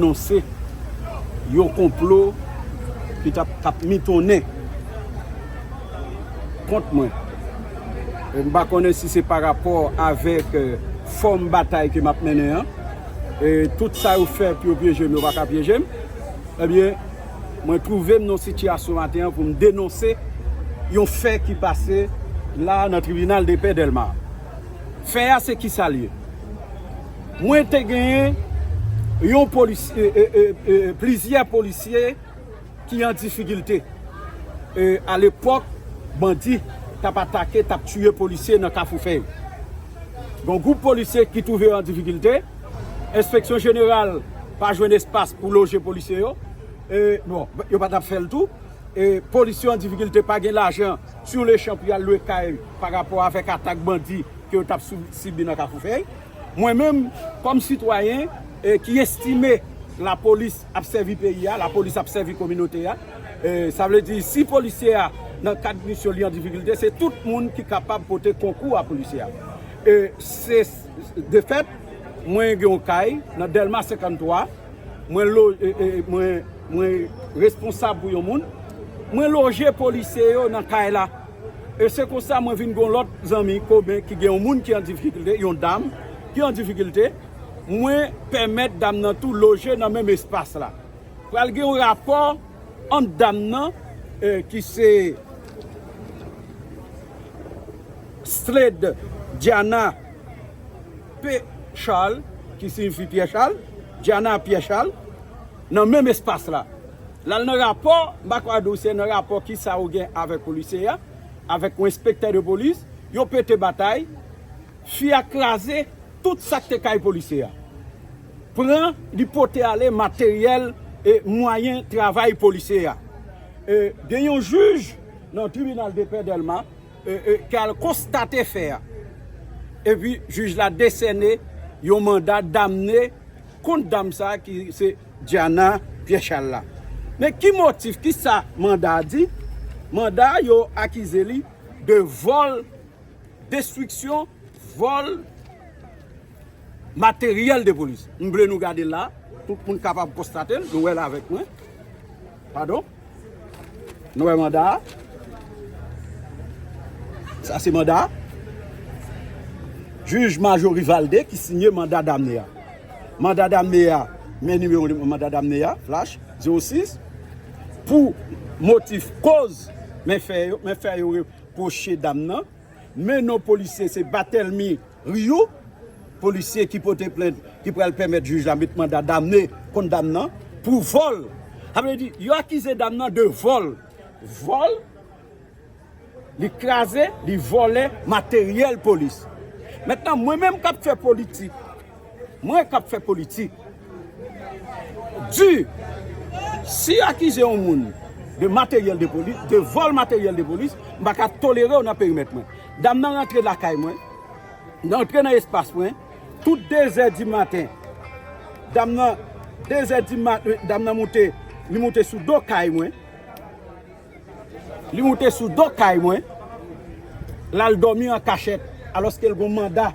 anonse yon konplo ki t ap mitonnen kont mwen. M pa konnen si se pa rapò avèk fòm batay ke m ap mennen an. Tout sa yo fè pou yo pyeje m, yo pa ka pyeje m. Ebyen, mwen twouve m nan yon sitiyasyon maten an pou m denonse yon fè ki pase la a nan tribinal depè Dèlma. Fè a se kisa l ye? Mwen te gen yon polisye, plizyè polisye ki an difikilte. A lepòk, bandi t ap atake, t ap tiye polisye nan Kafou Fèy. Gon gwoup polisye ki twouve yo an difikilte, enspeksyon jeneral pa jwenn espas pou loje polisye yo, bon, yo pa t ap fè l tou, polisye yo an difikilte, pa gen lajan, siw lechan pou y al lwe kay, pa rapò avèk atak bandi. ke yo tap sibi nan Kafoufèy. Mwen menm kòm sitwayen ki estime lapolis ap sèvi peyi a, lapolis ap sèvi kominote a, sa vle di si polisye a nan kad misyon li an difikilte, se tout moun ki kapab pote konkou a polisye a. De fèt, mwen gen yon kay nan Dèlma 53, mwen responsab pou yon moun, mwen loje polisye yo nan kay la. E se konsa mwen vin gen yon lòt zanmi komen ki gen yon moun ki an difikilte, yon dam ki an difikilte, mwen pèmèt dam nan tou loje nan menm espas la. Pral gen yon rapò ant dam nan ki se Slade Diana P. Charles, ki siyifi Pyè Chal, Diana Pyè Chal, nan menm espas la. Lal nan rapò makwado se nan rapò kisa ou gen avèk polisye a avèk yon enspektè de polis yo pete batay fi a kraze tout sak te kay polisye a pran li pote ale materyèl e mwayen travay polisye a e gen yon jij nan tribinal depè dèlma e ki al konstate fè a epi jij la desène yon manda damne kont dam sa ki se. Diana Pierre-Charles la. Men ki motif, ki sa manda a di? Manda a yo akize li de vòl, destriksyon, vòl materyèl de polis. M vle nou gade la pou moun kapab konstate l, nou wè l avèk mwen. Padon. Nou wè manda a? Sa se manda a? Jij Majo Rivalde ki signe manda damne a. Manda damne a, men nimewo manda damne a, flash, 06, pou motif koz men fè yo reproche dam nan, men non polisye se Batelmy. Riyou, polisye ki pote plent ki pral pèmèt jij la met manda damne kont dam nan pou vòl. Sa vle di, yo akize dam nan de vòl. Vòl, li kraze, li vòlè materyèl polis. Mentnan, mwen menm k ap fè politik, mwen k ap fè politik, di, si yo akize yon moun de materyèl de polis, de vòl materyèl de polis, m pa ka tolere w nan perimèt mwen. Dam nan rantre lakay mwen, li rantre nan espas mwen, tout dezè di maten, dam nan, dezè di ma, dam nan moute, li moute sou do kay mwen, li moute sou do kay mwen, l al dòmi an kachèt, alòske l gen yon manda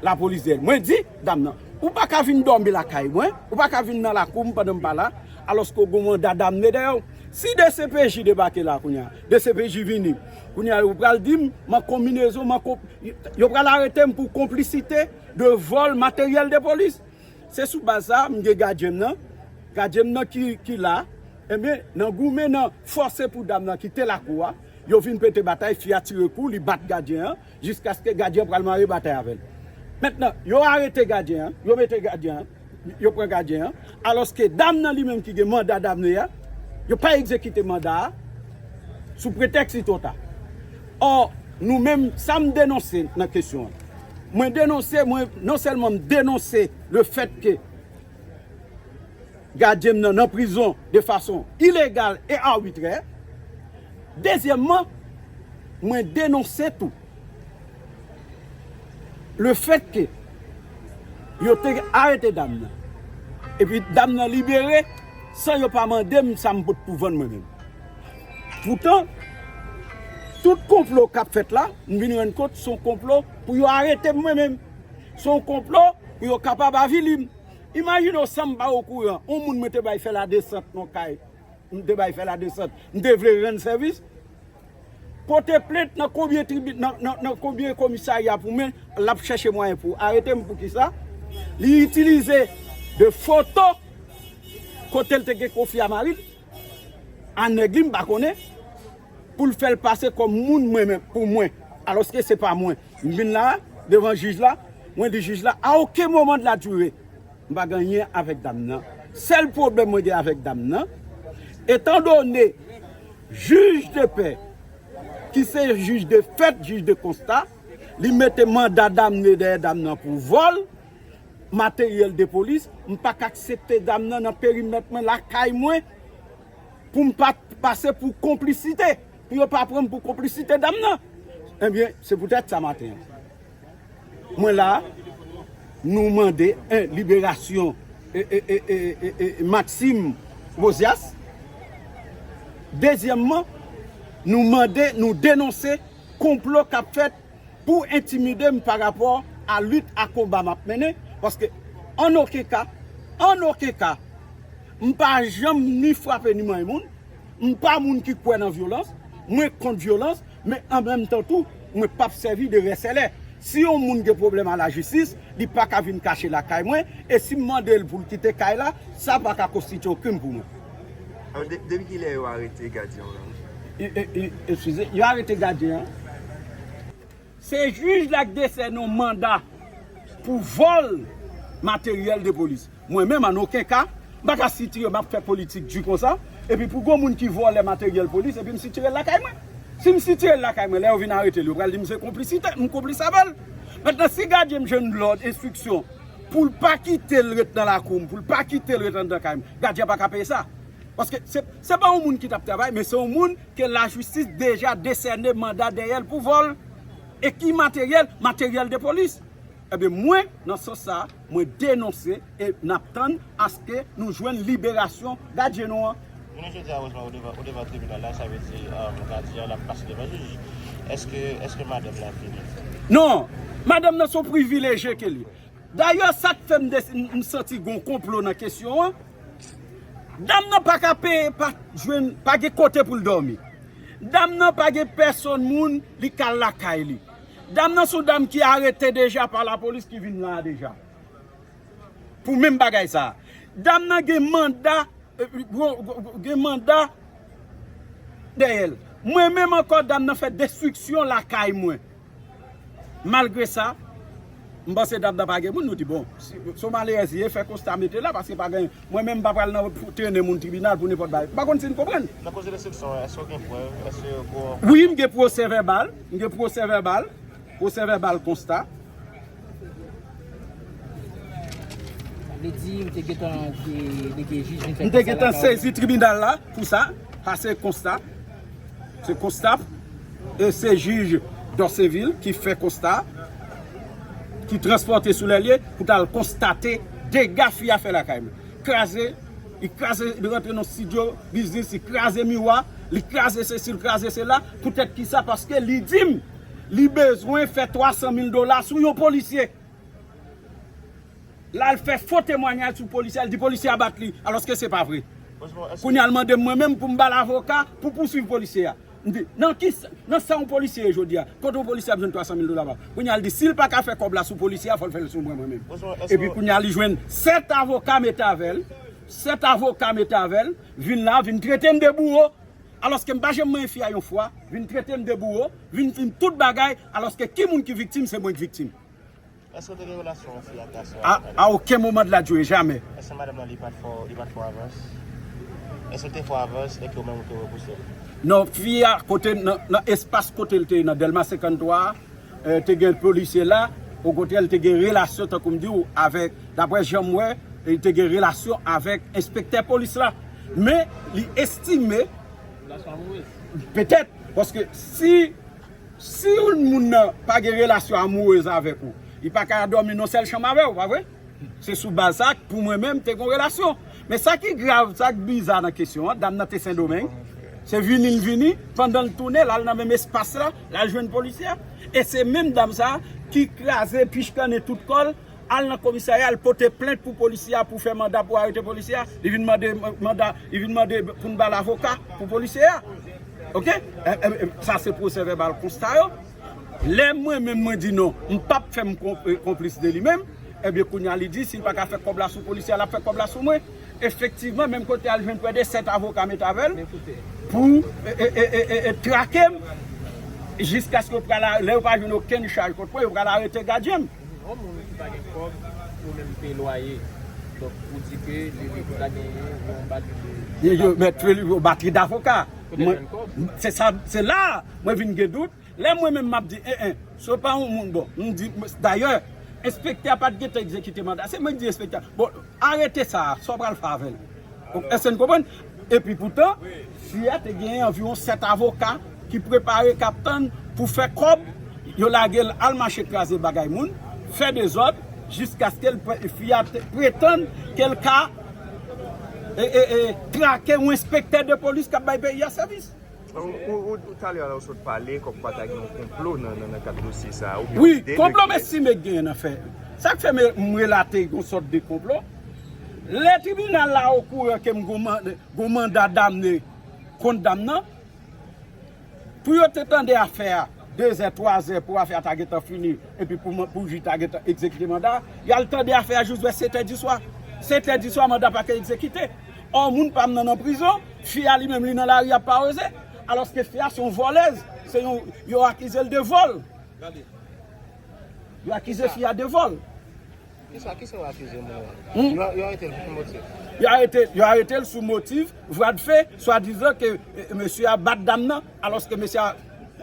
lapolis dèyè l. Mwen di dam nan, ou pa ka vin dòmi lakay mwen, ou pa ka vin nan lakou m pandan m pa la, alòske ou gen yon manda dame dèyè w. Si dcpj debake la kounye a? Dcpj vini Kounye a yo pral di m m an konminezon m an konp Yo pral arete m pou konplisite de vòl materyèl de polis Se sou baz sa a m gen gadyen m nan Gadyen m nan ki la Enben nan goumen nan fòse pou dam nan kite lakou a Yo vin pete batay fi a tire kou li bat gadyen an Jiskaske gadyen pral mare batay avè l. Mentnan, yo arete gadyen an, yo mete gadyen an, yo pran gadyen an, alòske dam nan li menm ki gen manda damne a, yo pa egzekite manda a sou pretèks li twò ta. Ò, nou menm, sa m denonse nan kesyon an, mwen denonse, mwen, non sèlman m denonse lefètke, gadyen m nan nan prizon de fason ilegal e arbitrè. Dezyèmman, mwen denonse tou le fèt ke yo te arete dam nan epi dam nan libere san yo pa mande m sa m pot pou vann mwen menm. Poutan, tout konplo k ap fèt la, m vin rann kont se yon konplo pou yo arete m mwen menm. Se yon konplo pou yo kapab avili m. Imajine w san m pa okouran, yon moun mwen te bay fè ladesant nan kay, m te bay fè ladesant, m te vle rann sèvis, pote plent nan konbyen tribi, nan konbyen komisarya pou mwen, l ap chèche mwayen pou arete m. Poukisa? Li itilize de foto kote l te gen konfli a mari l. a nèg li m pa konnen pou l fè l pase kòm moun mwen menm pou mwen alòske se pa mwen m vin la devan jij la mwen di jij la a oken moman de la dire m pa gen anyen avèk dam nan sèl pwoblèm mwen gen avèk dam nan etan done jij de pè ki se jij de fèt jij de konsta li mete manda damne dèyè dam nan pou vòl. materyèl de polis, m pa k aksepte zam nan nan perimèt mwen, lakay mwen, pou m pa pase pou konplisite, pou yo pa pran m pou konplisite zam nan. Ebyen, se poutèt sa maten an, mwen la a, nou mande 1 liberasyon Maxime Rosias, dezyèmman, nou mande, nou denonse konplo k ap fèt. pou entimide m pa rapò a lit a konba m ap mennen, paske ann oken ka, ann oken ka, m pa janm ni frape ni manyen moun, m pa moun ki kwè nan vyolans, mwen kont vyolans, men an menm tan tou, mwen p ap sèvi de rèsèlè. Si yon moun gen pwoblèm a lajistis, li pa ka vin kache lakay mwen, e si m mande l pou l kite kay la, sa pa ka konstitye yon krim pou mwen. Depi kilè yo arete gadyen w lan? Eskize, yo arete gadyen an? Se jij la k desène yon manda pou vòl materyèl de polis. Mwen menm an oken ka, m pa ka sitire m ap fè politik di konsa, epi pou gon moun ki vòlè materyèl polis epi m sitire l lakay mwen. Si m sitire l lakay mwen, lè yo vin arete l, yo pral di m se konplisite, m konplis avè l. Mentnan si gadyen m jwenn lòd, enstriksyon, Pou l pa kite l ret nan lakou m, pou l pa kite l ret anndan kay m, gadyen an pa ka peye sa. Paske, se pa yon moun ki t ap travay, men se yon moun ke lajistis deja desène manda dèyè l pou vòl. E ki materyèl? Materyèl de polis. Ebyen mwen, nan sans sa a, mwen denonse e n ap tann aske nou jwenn liberasyon gadyen nou an. Jounen jodia Rosmar ou devan tribinal la sa vle di gadyen an ap pase devan jij eske madanm lan fini? Non! Madanm nan se yon privileje ke li. Dayè sak fè m santi gon konplo nan kesyon an, dam nan pa ka peye pa jwenn pa gen kote pou l dòmi. Dam nan pa gen pèsòn moun li ka al lakay li. Dam nan se yon dam ki arete deja pa lapolis ki vin la a deja. Pou menm bagay sa. Dam nan gen manda gen manda dèyè l. Mwen menm ankò dam nan fè destriksyon lakay mwen. Malgre sa, m panse dam nan pa gen moun nou di bon. Si w malerèz ye fè konsta mete la paske pa gen mwen menm m pa pral nan trennen moun tribinal pou nenpòt bagay. M pa konn si n konprann. Nan koze destriksyon an èske w gen prèv? Èske ou gen. Wi m gen pwosè vèbal. M gen pwosè vèbal. Pwosè vèbal konsta. M te gentan sezi tribunal la pou sa Pase konsta Se konsta E se jij Dòsevil ki fè konsta Ki transpòte sou lè lye Pou ta l konstate Dega fi a fè lakay mwen Kraze Li kraze Li rantre nan studio Biznis Li kraze miwa Li kraze se si Li kraze se la Pou tèt ki sa Paske li di m Li bezwen fè 300 mil dola sou yon polisye. La l fè fo temwanyaj sou polisye a, l di polisye a bat li, alòske se pa vre. Kounye a l mande m mwen menm pou m ba l avoka pou pouswiv polisye a. M di, nan ki, nan sa yon polisye ye jodi a? Kote yon polisye ap jwenn 300 mil dola? Kounye a l di si l pa ka fè kòb la sou polisye a, fò l fè l sou mwen mwen menm. Epi kounye a li jwenn 7 avoka mete avè l, 7 avoka mete avè l, vin la, vin trete m de bouwo. alòske m pa janm manyen fi a yon fwa, vin trete m de bouro, vin di m tout bagay, alòske ki moun ki viktim se mwen k viktim. Eske w te gen relasyon yon fi ak gason a? A a oken moman de la joune, jamè. Eske madanm lan li pat fè w, li pat fè w avans? Eske l te fè w avans e ke ou menm ou te repouse l? Non, fi a kote, nan espas kote l te ye nan Dèlma 53 a. te gen polisye la, okontrè li te gen relasyon tankou m di w avèk, daprè jan m wè, li te gen relasyon avèk enspektè polis la. Men li estime, petèt, paske si si youn moun nan pa gen relasyon amourez avèk ou, li pa ka dòmi nan yon sèl chanm avè w, pa vre? Se sou baz sa pou mwen menm te gon relasyon. Men sa ki grav, sa ki biza nan kesyon an, dam nan te Sendomeng, se vini l vini, pandan l tounen, l al nan menm espas la, l al jwenn polisye a, e se menm dam sa ki kraze, pichkannen tout kò l, al nan komisarya, al pote plent pou polisye a, pou fè manda pou arete polisye a, li vin mande manda, li vin mande pou n ba l avoka pou polisye a. Ok? Sa se pwosè vèbal konsta yo. Lè mwen menm mwen di non, m pap fè m konplis de li menm, ebyen kounye a li di si l pa ka fè kòb la sou polisye a l ap fè kòb la sou mwen. Efektivman menm kote a l jwenn prè de 7 avoka met avè l pou trake m jiskaske yo pral lè yo pa jwenn okenn chaj kont mwen yo pral arete gadyen m. Yon moun ki pa gen kòb pou menm peye lwaye donk ou di ke li li pou ta gen yon batri de avoka. Mèt Trelivye batri davoka. Kote l jwenn kòb? Se la a. Mwen vin gen dout, lè mwen menm m ap di en en, si w pa yon moun bon, m di, dayè, enspektè a pa t gentan egzekite manda a, se mwen ki di enspektè a, bon, arete sa a, sa w pral fè avè l? Èske n konprann? Epi poutan, fi a te genyen anviwon sèt avoka ki prepare, k ap tann pou fè kòb, yo lage l al mache kraze bagay moun, fè dezòd, jiskaske l pwè, fi a te pretann ke l ka trake yon enspektè de polis k ap bay peyi a sèvis. Wi, konplo m estime k genyen nan fè. Sa k fè m relate yon sòt de konplo, lè tribinal la okouran ke m gon manda damne kont dam nan, pou yo te tande afè a, 2 zè, 3 zè pou afè a ta gentan fini epi pou jij ta gentan egzekite manda a. Y al tande afè a jous vè 7 è diswa. 7 è diswa manda a pa ka egzekite. Ò moun pa m nan nan prizon, fi a li menm li nan lari ap paweze. Alòske fi a se yon vòlèz, se yon, yo akize l de vòl. Yo akize fi a de vòl. Kisa kisa yo akize moun an? Yo arete l pou ki motif? Yo arete l sou motif vwa de fe, swadizan ke mesye a bat dam nan, alòske mesye a,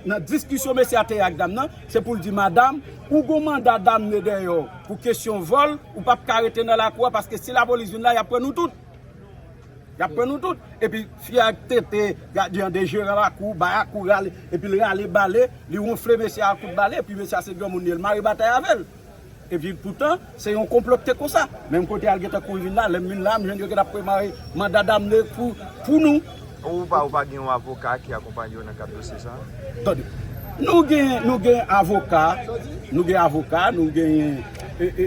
nan diskisyon mesye a te ak dam nan, se pou l di madam, ou gon manda damne dèyè w pou kesyon vòl, ou pap ka rete nan lakou a paske si lapolis vin la y ap pran nou tout. Y ap pran nou tout. Epi fi a tete gadyan de jeran lakou, bayakou rale, epi l rale bale, li wonfle mesye a ak kout bale, epi mesye a se granmoun li, l mare batay avè l. Epi poutan, se yon konplo ki te konsa. Menm kote a l gentan kouri vin la, lè m vin la, m jwenn yo gentan ap prepare manda damne pou nou. Ou pa ou pa gen yon avoka ki akonpanye w nan kad dosye sa a? Tande, nou gen, nou gen avoka, nou gen avoka, nou genyen e,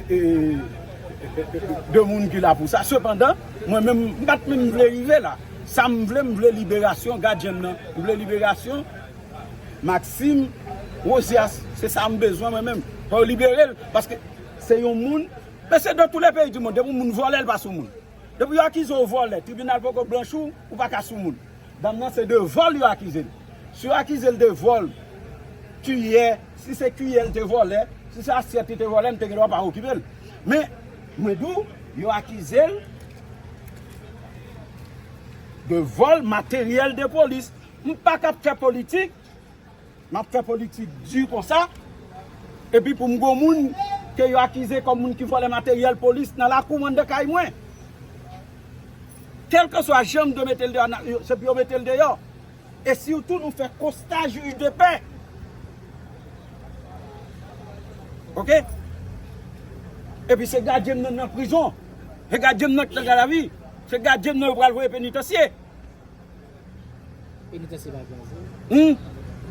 de moun ki la pou sa. Sepandan, mwen menm, m pa t menm vle rive la. Sa m vle, m vle liberasyon gadyen m nan. M vle liberasyon. Maxime Rosias se sa m bezwen mwen menm fò yo libere l paske se yon moun mesye dans tous les pays du monde depi yon moun vòlè l pa sou moun depi yo akize w vòlè tribinal poko blanchi w ou pa ka sou moun dam nan se de vòl yo akize l si yo akize l de vòl kiyè si se kiyè l te vòlè si se asyèt li te vòlè m te gen dwa pa okipe l men mwen di w yo akize l de vòl materyèl de polis. M pa kab fè politik, m ap fè politik di konsa, epi pou m gon moun ke yo akize kòm moun ki vòlè materyèl polis nan lakou anndan kay mwen. Kèlkeswa jan m dwe mete l deyò, se pou yo mete l deyò. E sitou nou fè konsta jij de pè. Ok? Epi se gadyen m nan nan prizon. Se gadyen m nan ki nan gadavi. Se gadyen m nan yo pral voye penitansye.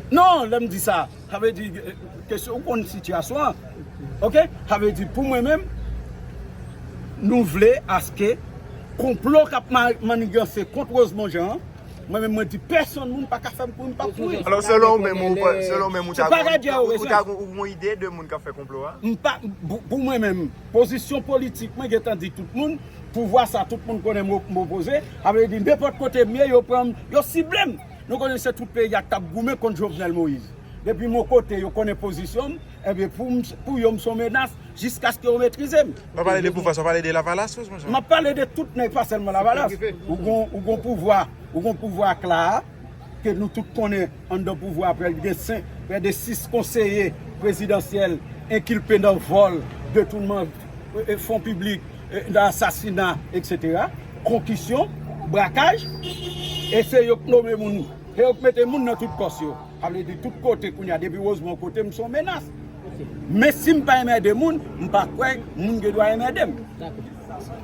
Non, lè m di sa, sa vle di, kesyon, ou konn sitiyasyon an, ok, sa vle di pou mwen menm, nou vle aske konplo k ap maniganse kont Rosemond Jean an, mwen menm mwen di pèsonn moun pa ka fè m kouri m pa p kouri. Alò selon ou menm, selon ou menm ou ta gen yon ide de moun k ap fè konplo a? M pa, pou mwen menm. Pozisyon politik mwen gentan di tout moun, pouvwa sa tout moun konnen m opoze, sa vle di nenpòt kote m ye yo pran m, yo sible m. Nou konnen se tout peyi a k t ap goumen kont Jovenel Moïse. Depi m yon kote yo konnen pozisyon m, enben pou yo m s on menas jiskaske yo metrize m. Wap pale de pouvwa sa, wap pale de lavalas tou monchè? M ap pale de tout nèg pa sèlman lavalas. Ou gen yon pouvwa, ou gen yon pouvwa ak la a. ke nou tout konnen anndan pouvwa a prèk gen 5, prè de 6 konseye prezidansyèl enkilpe nan vòl, detounman fon piblik, nan asasina etc. Konkisyon, brakaj, e se yo k nome moun, se yo k mete moun nan tout pòs yo. Sa vle di tout kote kounye a depi Rosemont kote m son menas. Men si m pa enmède moun, m pa kwè moun gen dwa enmède m.